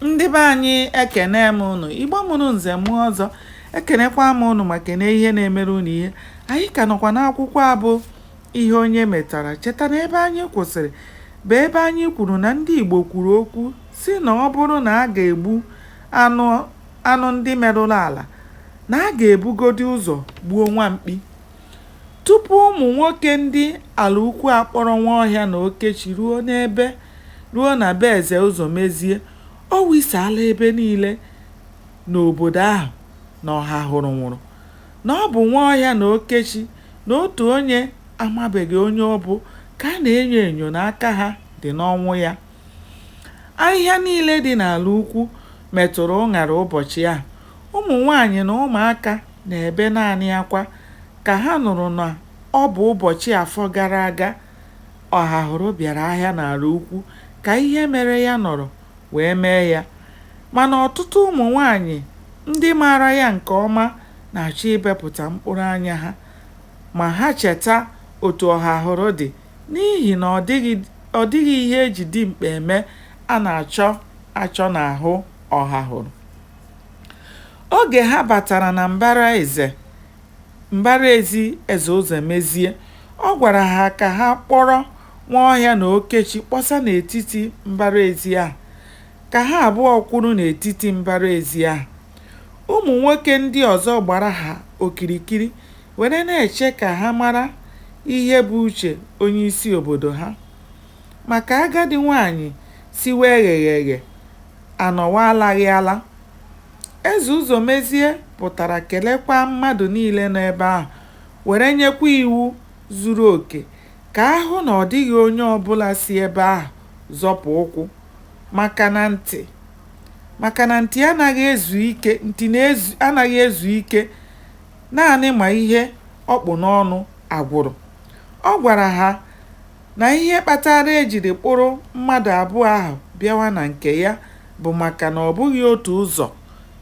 ndị be anyị ekene m ụnụ igbo mụrụ nze mụọ ọzọ ekenekwa m ụnụ ma kene ihe na-emere ụnụ ihe anyị ka nọkwa n'akwụkwọ a bụ ihe onye metara cheta na ebe anyị kwụsịrị bụ ebe anyị kwuru na ndị igbo kwuru okwu sị na ọ bụrụ na a ga-egbu anụ ndị merụrụ ala na a ga-ebugodi ụzọ gbuo nwa mkpi Tupu ụmụ nwoke ndị Alaukwu akpọrọ Nwaọhịa na Okechi ruo n'ebe ruo na be Eze Ụzọmezie, o wisaala ebe niile n'obodo ahụ na Ọhahụrụ nwụrụ, na ọ bụ Nwaọhịa na Okechi na otu onye amabeghị onye ọ bụ ka a na-enyo enyo na aka ha dị n'ọnwụ ya. Ahịhịa niile dị n'Alaukwu metụrụ ụṅara ụbọchị ahụ. Ụmụnwaanyị na ụmụaka Na-ebe naanị akwa ka ha nụrụ na ọ bụ ụbọchị Afọ gara aga Ọhahụrụ bịara ahịa n'Alaukwu ka ihe mere ya nọrọ wee mee ya. Mana ọtụtụ ụmụnwaanyị ndị maara ya nke ọma na-achọ ibepụta mkpụrụ anya ha ma ha cheta otu Ọhahụrụ dị n'ihi na ọ dịghị ihe e ji dimkpa eme a na-achọ achọ n'ahụ Ọhahụrụ. Oge ha batara na mbara eze mbara ezi Eze Ụzọmezie, ọ gwara ha ka ha kpọrọ Nwaọhịa na Okechi kpọsa n'etiti mbara ezi ahụ, ka ha abụọ kwụrụ n'etiti mbara ezi ahụ. Ụmụ nwoke ndị ọzọ gbara ha okirikiri were na-eche ka ha mara ihe bụ uche onyeisi obodo ha. Maka agadi nwaanyị siwe eghegheghe, a nọwa alaghị ala. Eze Ụzọmezie pụtara kelekwaa mmadụ niile nọ ebe ahụ were nyekwa iwu zuru oke ka a hụ na ọ dịghị onye ọbụla si ebe ahụ zọpụ ụkwụ maka na nti maka na nti anaghị ezu ike naanị ma ihe ọ kpụ n'ọnụ agwụrụ. Ọ gwara ha na ihe kpatara e jiri kpụrụ mmadụ abụọ ahụ bịawa na nke ya bụ maka na ọ bụghị otu ụzọ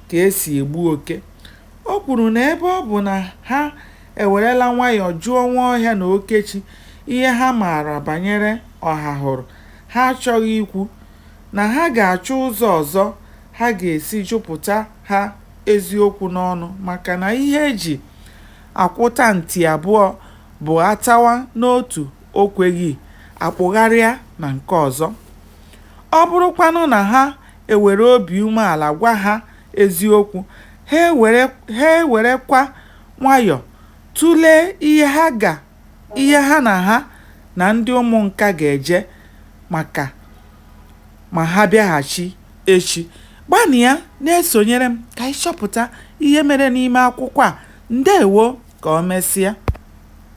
ka e si egbu oke. O kwuru na ebe ọ bụ na ha ewerela nwayọọ jụọ Nwaọhịa na Okechi ihe ha maara banyere Ọhahụrụ, ha achọghị ikwu, na ha ga-achọ ụzọ ọzọ ha ga-esi jụpụta ha eziokwu n'ọnụ maka na ihe e ji akwụta nti abụọ bụ a tawa n'otu o kweghị a kpụgharịa na nke ọzọ. Ọ bụrụkwanụ na ha ewere obi umeala gwa ha eziokwu, ha ewerekwa nwayọọ tụlee ihe ha ga ihe ha na ha na ndị Ụmụnka ga-eje maka ma ha bịaghachi. echi. Gbanịa na-esonyere m ka anyị chọpụta ihe mere n'ime akwụkwọ a. Ndewo! Ka o mesịa.